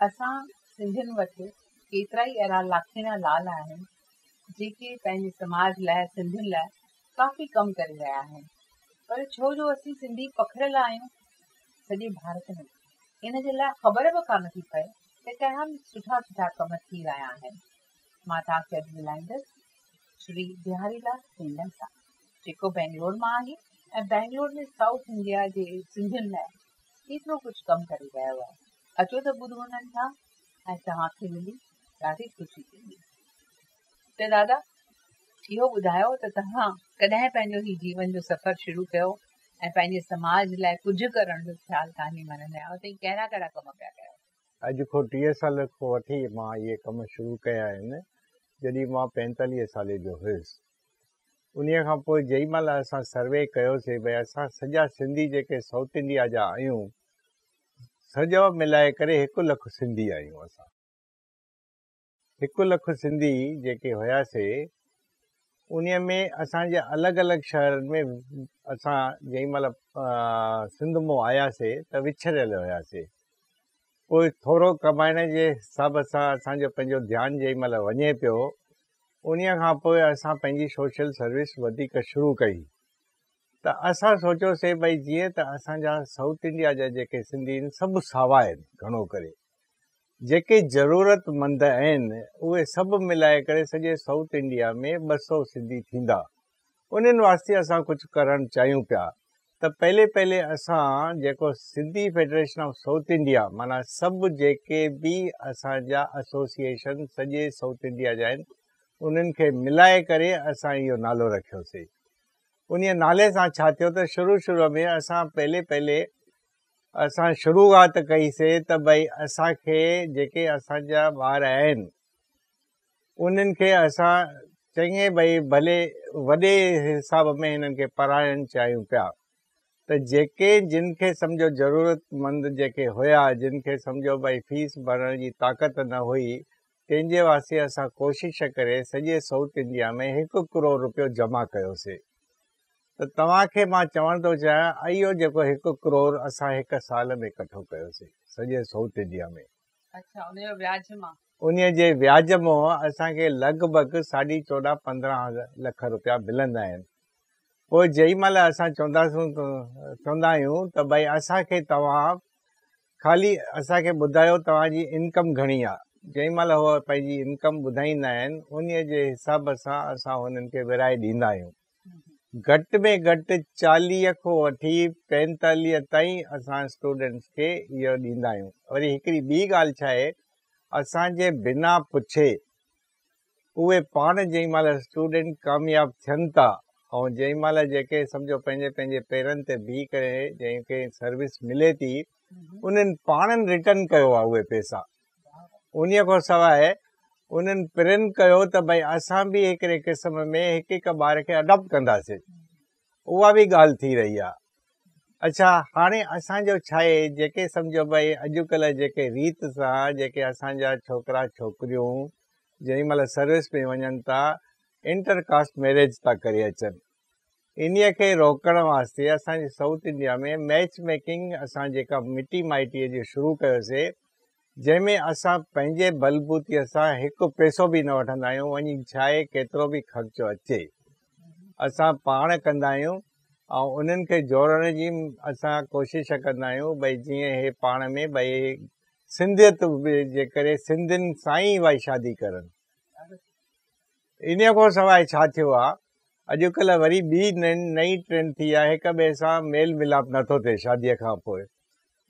اسان سنڌين وٽ ڪيترائي اهڙا لاکيڻيا لال آهن جيڪي پنهنجي سماج لاء سنڌين لاء ڪافي ڪم ڪري رهيا آهن پر ڇو جو اسين سنڌي پکڙيل آهيون سڄي ڀارت ۾ ان جي لاء خبر به ڪا نه ٿي پئي ته ڪهڙا سٺا سٺا ڪم ٿي رهيا آهن مان توهان کي اڄ ملائيندس شري بهاري لال سنڌن سان جيڪو بئنگلور مان آهي ۽ بئنگلور ۾ سائوٿ انڊيا جي سنڌين لاء ڪيترو ڪجهه ڪم ڪري رهيا هئا، اچو ته ٻڌو انهن کان ۽ توهان کي ملي ڏاڍي خوشي ٿيندي. ته دادا اهو ٻڌايو ته توهان ڪڏهن پنهنجو هي جيون جو سفر شروع ڪيو ۽ پنهنجي سماج لاء ڪجهه ڪرڻ جو خيال توهان جي من ۾ آيو ته هي ڪهڙا ڪهڙا ڪم پيا ڪيو. اڄ کان ٽيهه سال کان وٺي مان اهي ڪم شروع ڪيا آهن جڏهن مان پينتاليهه سالي جو هيس. انهيء کان پوء جنهن مهل اسان سروي ڪيوسي ڀي اسان سڄا سنڌي جيڪي سائوٿ انڊيا جا آهيون سڄو ملائي ڪري هڪ لک سنڌي آهيون اسان هڪ لک سنڌي جيڪي هياسي انهيء ۾ اسان جي الڳ الڳ شهرن ۾ اسان جنهن مهل سنڌ مون آياسي ته وڇريل هياسي پوء ٿورو ڪمائڻ جي حساب سان اسان جو پنهنجو ڌيان جنهن مهل وڃي پيو انهيء کان پوء اسان پنهنجي سوشل سروس وڌيڪ شروع ڪئي ته اسان سوچيوسين ڀئي جيئن ته اسان جا سائوٿ انڊيا جا جيڪي سنڌي آهن سڀ ساوا آهن گهڻو ڪري جيڪي ضرورت مند آهن اهي سڀ ملائي ڪري سڄي سائوٿ انڊيا ۾ ٻه سؤ سنڌي ٿيندا انهن واسطي اسان ڪجهه ڪرڻ چاهيون پيا ته پهلي پهلي اسان جيڪو Sindhi federation of South India معنيٰ سڀ جيڪي به اسان جا ايسوسيئيشن سڄي سائوٿ انڊيا جا آهن انهن کي ملائي ڪري اسان اهو نالو رکيوسي انهي نالي سان ڇا ٿيو ته شروع شروع ۾ اسان پهلي پهلي اسان شروعات ڪئي سي ته ڀئي اسان کي جيڪي اسان جا ٻار آهن انهن کي اسان چڱي ڀئي ڀلي وڏي حساب ۾ هنن کي پرائڻ چاهيون پيا ته جيڪي جن کي سمجهو ضرورت مند جيڪي هيا جن کي سمجهو ڀئي فيس ڀرڻ جي طاقت نه هئي تنهن جي واسطي اسان ڪوشش ڪري سڄي سئوٿ انڊيا ۾ هڪ ڪروڙ روپيو جمع ڪيوسي ته توهان کي مان چوڻ ٿو چاهيان اهو جيڪو هڪ ڪروڙ اسان هڪ سال ۾ ڪٺو ڪيوسي سڄي سئوٿ انڊيا ۾ انهيء جي وياج منهن اسان کي لڳ ڀڳ ساڍي چوڏهن پندرهن لک رپيا ملندا آهن. پوء جنهن مهل اسان چونداسون چوندا آهيون ته ڀائي اسان کي توهان خالي اسان کي ٻڌايو توهان جي انڪم گهڻي آهي. جنهن مهل هو پنهنجي انڪم ٻڌائيندا آهن انهيء جي حساب سان اسان هنن کي ورهائي ڏيندا آهيون. گهٽ ۾ گهٽ چاليهه کون وٺي پينتاليهه تائين اسان اسٽوڊنٽس کي اهو ڏيندا آهيون وري هڪڙي ٻي ڳالهه ڇا آهي اسان جي بنا پڇي اهي پاڻ جنهن مهل اسٽوڊنٽ ڪامياب ٿين ٿا ۽ جنهن مهل جيڪي سمجهو پنهنجي پنهنجي پيرن تي بيهي ڪري جنهن کي سروس ملي ٿي انهن پاڻن رٽرن ڪيو آهي اهي پيسا انهيء کان سواء انهن پرين ڪيو ته ڀئي اسان به هڪڙي قسم ۾ هڪ هڪ ٻار کي اڊاپٽ ڪنداسين. اها به ڳالهه ٿي رهي آهي. اڇا هاڻي اسان جو ڇاهي جيڪي سمجهو ڀئي اڄڪلهه جيڪي ريت سان جيڪي اسان جا ڇوڪرا ڇوڪريون جنهن مهل سروس ۾ وڃن ٿا انٽر ڪاسٽ ميريج ٿا ڪري اچن انهيء کي روڪڻ واسطي اسان جي سائوٿ انڊيا ۾ ميچ ميڪنگ اسان جيڪا مٽي مائٽيء جي شروع ڪيوسي، جنهن ۾ اسان پنهنجي بلبوتيء سان هڪ پئسو به نه وٺندا آهيون، وڃي ڇاهي ڪيترو به خرچو اچي، اسان پاڻ ڪندا آهيون ۽ انهن کي جوڙڻ جي اسان ڪوشش ڪندا آهيون، ڀئي جيئن هي پاڻ ۾ ڀئي سنڌيت جي ڪري سنڌين سان ئي ڀئي شادي ڪرن. انهيء کان سواء ڇا ٿيو آ، اڄڪلهه وري ٻي نئين ٽرينڊ ٿي آ، هڪ ٻئي سان ميل ميلاپ نه ٿو ٿئي شاديء کان پوء،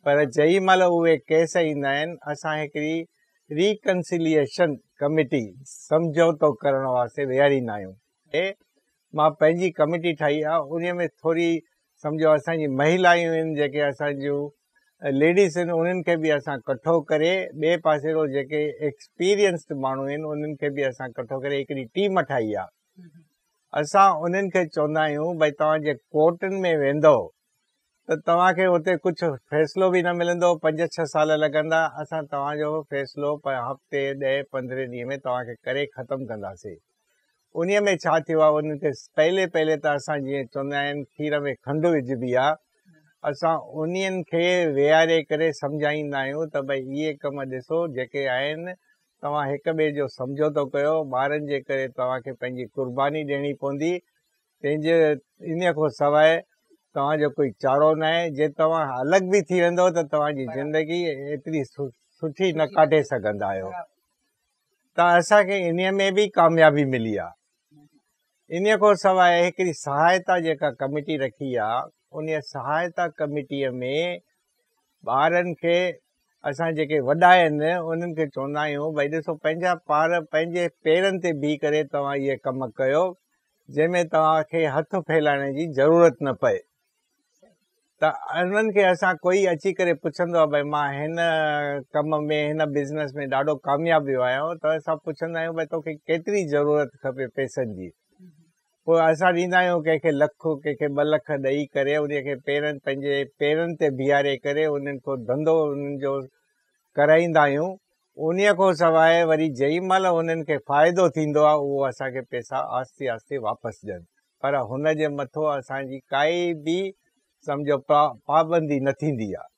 پر جنهن مهل اهي ڪيس ايندا آهن، اسان هڪڙي ري ڪنسيليئيشن ڪميٽي، سمجهوتو ڪرڻ واسطي، ويهاريندا آهيون. اي مان پنهنجي ڪميٽي ٺاهي آ، انهيء ۾ ٿوري سمجهو اسان جي مهيلائيون آهن، جيڪي اسان جون ليڊيز آهن انهن کي به اسان ڪٺو ڪري ٻئي پاسي رو جيڪي ايڪسپيرينسڊ ماڻهو آهن انهن کي به اسان ڪٺو ڪري هڪڙي ٽيم ٺاهي آ اسان انهن کي چوندا آهيون بھي توهان جي ڪورٽن ۾ ويندو ته توهان کي اتي ڪجهه فيصلو به نه ملندو پنج ڇهه سال لڳندا اسان توهان جو فيصلو هفتي ڏهه پندرهن ڏينهن ۾ توهان کي ڪري ختم ڪنداسين انهيء ۾ ڇا ٿيو آهي ان تي پهلي پهلي ته اسان جيئن چوندا آهن کير ۾ کنڊ وجهبي آهي اسان انهن کي ويهاري ڪري سمجهائيندا آهيون ته ڀئي اهي ڪم ڏسو جيڪي آهن توهان هڪ ٻئي جو سمجهوتو ڪيو ٻارن جي ڪري توهان کي پنهنجي قرباني ڏيڻي پوندي تنهن جي انهيء کان سواء توهان جو ڪوئي چارو نه آهي جي توهان الڳ به ٿي ويندو ته توهان جي زندگي ايتري سٺي نه ڪاٽي سگهندا آهيو ته اسان کي انهيء ۾ به ڪاميابي ملي آهي. انهيء کان سواء هڪڙي سهائتا جيڪا ڪميٽي رکي آهي، انهيء سهائتا ڪميٽيء ۾ ٻارن کي اسان جيڪي وڏا آهن انهن کي چوندا آهيون ڀئي ڏسو پنهنجا پار پنهنجي پيرن تي بيهي ڪري توهان اهي ڪم ڪيو جنهن ۾ توهان کي هٿ ڦيلائڻ جي ضرورت نه پئي. ته انهن کي اسان ڪوئي اچي ڪري پڇندو آهي ڀاء مان هن ڪم ۾ هن بزنس ۾ ڏاڍو ڪامياب ويو آهيان ته اسان پڇندا آهيون ڀاء توکي ڪيتري ضرورت کپي پئسن جي پوء اسان ڏيندا آهيون ڪنهن کي لک ڪنهن کي ٻه لک ڏئي ڪري ان کي پيرن پنهنجي پيرن تي بيهاري ڪري انهن کي ڌنڌو انهن جو ڪرائيندا آهيون انهيء کان سواء وري جنهن مهل هنن کي فائدو ٿيندو آهي اهو اسان کي پئسا آهستي آهستي واپس ڏين پر هن جي مٿو اسان جي ڪائي به سمجهو پابندي نه ٿيندي آهي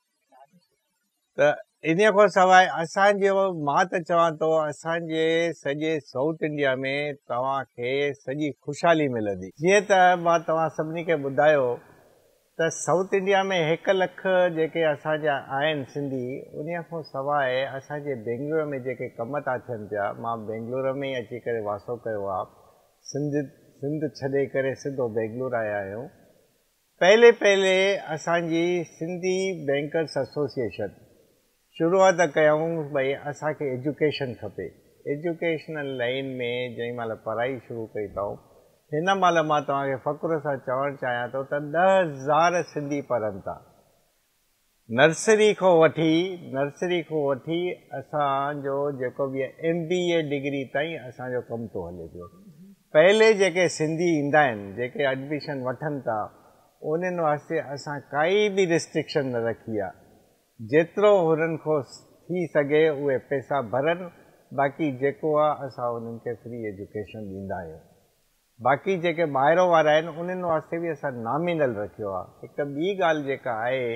ته انهيء کان سواء اسان جو مان ته چوان ٿو اسان جي سڄي سائوٿ انڊيا ۾ توهان کي سڄي خوشحالي ملندي. جيئن ته مان توهان سڀني کي ٻڌايو ته سائوٿ انڊيا ۾ هڪ لک جيڪي اسان جا آهن سنڌي ان کان سواء اسان جي بينگلور ۾ جيڪي ڪم ٿا ٿين پيا مان بينگلور ۾ ئي اچي ڪري واسو ڪيو آ سنڌ سنڌ ڇڏي ڪري سڌو بينگلور آيا آهيون پهلي پهلي اسان جي سنڌي بينڪرس ايسوسيئيشن شروعات ڪيائون ڀئي اسان کي ايجوڪيشن کپي ايجوڪيشنل لائين ۾ جنهن مهل پرائي شروع ڪئي اٿائون هن مهل مان توهان کي فخر سان چوڻ چاهيان ٿو ته ڏهه هزار سنڌي پڙهن ٿا نرسري کان وٺي نرسري کان وٺي اسان جو جيڪو به ايم بي اي ڊگري تائين اسان جو ڪم ٿو هلي پيو پهلي جيڪي سنڌي ايندا آهن جيڪي ايڊميشن وٺن ٿا انهن واسطي اسان ڪائي به ريسٽرڪشن نه رکي آهي جيترو هنن کان ٿي سگهي اهي پئسا ڀرن باقي جيڪو آ اسان انهن کي فري ايجوڪيشن ڏيندا آهيون باقي جيڪي ٻاهرو وارا آهن انهن واسطي به اسان نامينل رکيو آ هڪ ٻي ڳالهه جيڪا آهي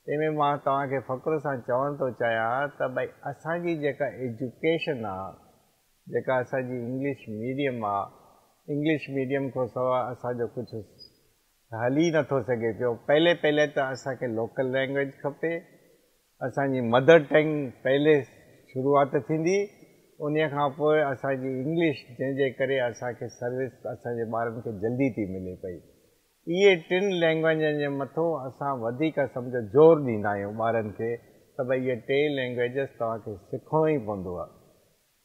تنهن ۾ مان توهان کي فخر سان چوڻ ٿو چاهيان ته ڀئي اسان جي جيڪا ايجوڪيشن آ جيڪا اسان جي انگلش ميڊيم آ انگلش ميڊيم کان سوا اسان جو ڪجهه هلي نٿو سگهي پيو پهلي پهلي ته اسان کي لوڪل لينگويج کپي اسان جي مدر ٽنگ پهلي شروعات ٿيندي ان کان پوء اسان جي انگلش جنهن جي ڪري اسان کي سروس اسان جي ٻارن کي جلدي ٿي ملي پئي اهي ٽن لينگويجن جي مٿو اسان وڌيڪ سمجهو زور ڏيندا آهيون ٻارن کي ته بئي اهي ٽي لينگويجز توهان کي سکڻو ئي پوندو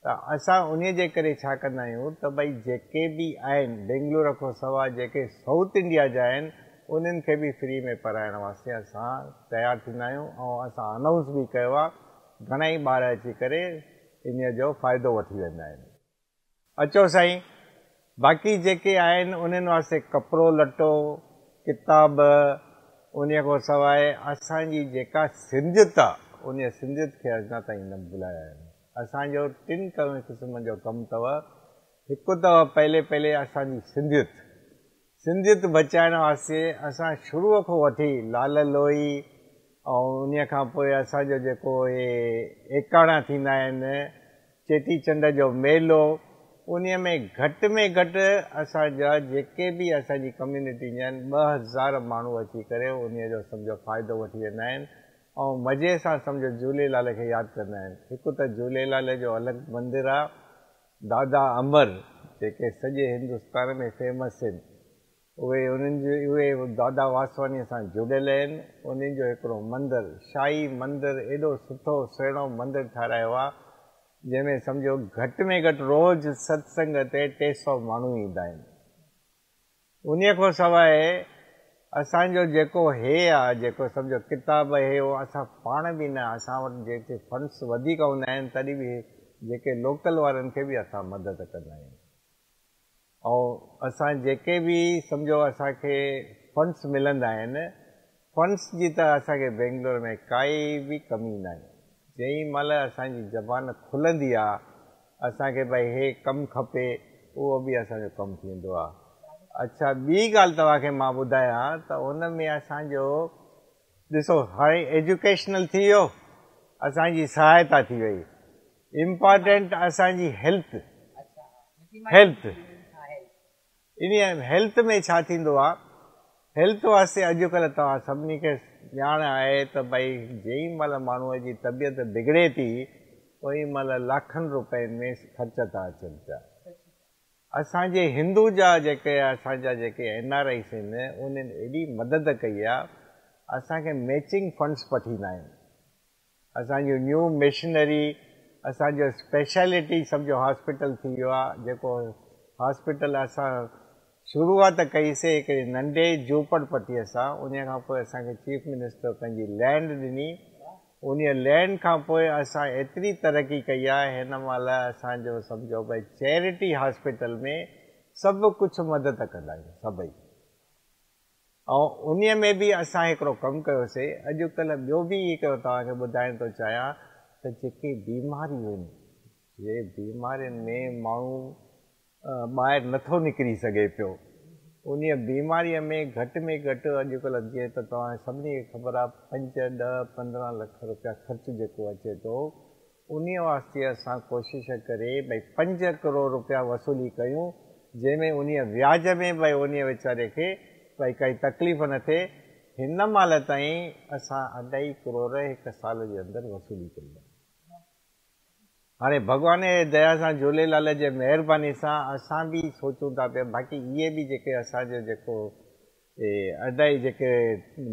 ته اسان انهي جي ڪري ڇا ڪندا آهيون ته ڀئي جيڪي به آهن بينگلور کان سوا جيڪي سائوٿ انڊيا جا آهن انهن کي به فري ۾ پرائڻ واسطي اسان تيار ٿيندا آهيون ۽ اسان انائونس به ڪيو آهي گهڻائي ٻار اچي ڪري انهي جو فائدو وٺي ويندا آهن. اچو سائين باقي جيڪي آهن انهن واسطي ڪپڙو لٽو ڪتاب انهي کان سواء اسان جي جيڪا سنڌيت آهي انهي سنڌيت کي اڃا تائين نه ڀلايا آهن. اسان جو ٽن ڪرڻ قسمن جو ڪم تئ هڪ تئ پهلي پهلي اسان جي سنڌيت سنڌيت بچائڻ واسطي اسان شروع کون وٺي لال لوئي ۽ انهي کان پوء اسان جو جيڪو اهي ايڪاڻا ٿيندا آهن چيٽي چنڊ جو ميلو انهي ۾ گهٽ ۾ گهٽ اسان جا جيڪي به اسان جي ڪميونٽي جا آهن ٻه هزار ماڻهو اچي ڪري انهي جو سمجهو فائدو وٺي ويندا آهن ائون مزي سان سمجهه جهوليلال کي ياد ڪندا آهن. هڪ ته جهوليلال جو الڳ مندر آ دادا امر جيڪي سڄي هندستان ۾ فيمس هن اهي انهن جي اهي دادا واسواني سان جڙيل هن انهن جو هڪڙو مندر شاهي مندر ايڏو سٺو سهڻو مندر ٺارايو آ جنهن ۾ سمجهو گهٽ ۾ گهٽ روز ستسنگ تي ٽي سئو ماڻهو ايندا آهن. انهيء کان سواء اسان جو جيڪو هي آ، جيڪو سمجهو ڪتاب هي اهو اسان پاڻ به نه، اسان وٽ جيڪي فنڊس وڌيڪ هوندا آهن تڏهن به جيڪي لوڪل وارن کي به اسان مدد ڪندا آهيون ۽ اسان جيڪي به سمجهو اسان کي فنڊس ملندا آهن فنس جي ته اسان کي بينگلور ۾ ڪائي به ڪمي ناهي. جئين مهل اسان جي زبان کلندي آ اسان کي به هي ڪم کپي اهو به اسان جو ڪم ٿيندو آ. اڇا ٻي ڳالهه توهان کي مان ٻڌايان ته ان ۾ اسان جو ڏسو هاڻي ايجوڪيشنل ٿي ويو اسان جي سهائتا ٿي وئي امپارٽينٽ اسان جي هيلٿ هيلٿ انهيء هيلٿ ۾ ڇا ٿيندو آهي؟ هيلٿ واسطي اڄڪلهه توهان سڀني کي ڄاڻ آهي ته بئي جئين مهل ماڻهوء جي طبيعت بگڙي ٿي اوهين مهل لاکن روپين ۾ خرچ ٿا اچن پيا. اسان جي هندو جا جيڪي اسان جا جيڪي اين آر آئيز آهن انهن ايڏي مدد ڪئي آهي اسان کي ميچنگ فنڊز پٺيندا آهن. اسان جو نيو مشنري اسان جو اسپيشلٽي سمجهو هاسپيٽل ٿي ويو آهي جيڪو هاسپيٽل اسان شروعات ڪئي سي هڪڙي ننڍي جهوپڙ پٽيء سان انهي کان پوء اسان کي چيف منسٽر پنهنجي لينڊ ڏني انهي لينڊ کان پوء اسان ايتري ترقي ڪئي آهي هن مهل اسان جو سمجهو ڀئي چيرٽي هاسپيٽل ۾ سڀ ڪجهه مدد ڪندا آهيون سڀئي. ۽ انهيء ۾ به اسان هڪڙو ڪم ڪيوسي، اڄڪلهه ٻيو به هڪڙو توهان کي ٻڌائڻ ٿو چاهيان ته جيڪي بيماريون آهن، جي بيمارين ۾ ماڻهو ٻاهر نه ٿو نڪري سگهي پيو، انهيء بيماريء ۾ گهٽ ۾ گهٽ اڄڪلهه جيئن ته توهان سڀني کي خبر آهي پنج، ڏهه، پندرهن لک روپيا خرچ جيڪو اچي ٿو، انهيء واسطي اسان ڪوشش ڪري ڀئي پنج ڪروڙ روپيا وصولي ڪيون، جنهن ۾ انهيء وياج ۾ به ڀئي انهيء ويچاري کي ڀئي ڪائي تڪليف نه ٿئي. هن مهل تائين اسان اڍائي ڪروڙ هڪ سال جي اندر وصولي ڪئي آهي. هاڻي ڀڳوان جي ديا سان، جهوليلال جي مهرباني سان اسان به سوچون ٿا پيا، باقي اهي به جيڪي اسان جو جيڪو تي ادا جيڪي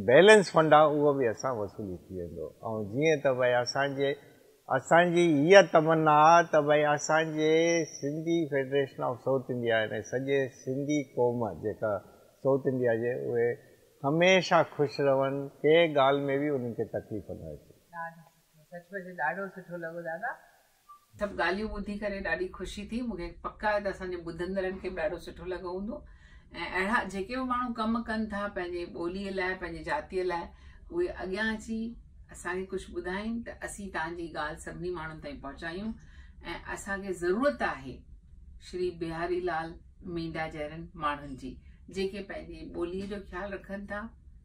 بيلنس فنڊ آ اهو به اسان وصولي ٿي ويندو ۽ جيئن ته بھي اسان جي اسان جي اها تمنا آ ته بھي اسان جي Sindhi federation of South India يعني سڄي سنڌي قوم جيڪا سائوٿ انڊيا جي اهي هميشه خوش رهن ڪنهن ڳالھ ۾ به انهن کي تڪليف نه اچي. ڏاڍو سٺو سچ پچ ڏاڍو سٺو لڳو دادا. سڀ ڳالهيون ٻڌي ڪري ڏاڍي خوشي ٿي، مون کي پڪ آهي ته اسان جي ٻڌندڙن کي به ڏاڍو سٺو لڳو هوندو ۽ اهڙا جيڪي به ماڻهو ڪم ڪن ٿا پنهنجي ٻوليء لاء پنهنجي جاتيء لاء اهي اڳيان اچي اسان کي ڪجهه ٻڌائين ته اسين تان جي ڳالهه سڀني ماڻهن تائين پهچايون ۽ اسان کي ضرورت آهي شري بهاري لال مينڊا جهڙن ماڻهن جي جيڪي پنهنجي ٻوليء جو خيال رکن ٿا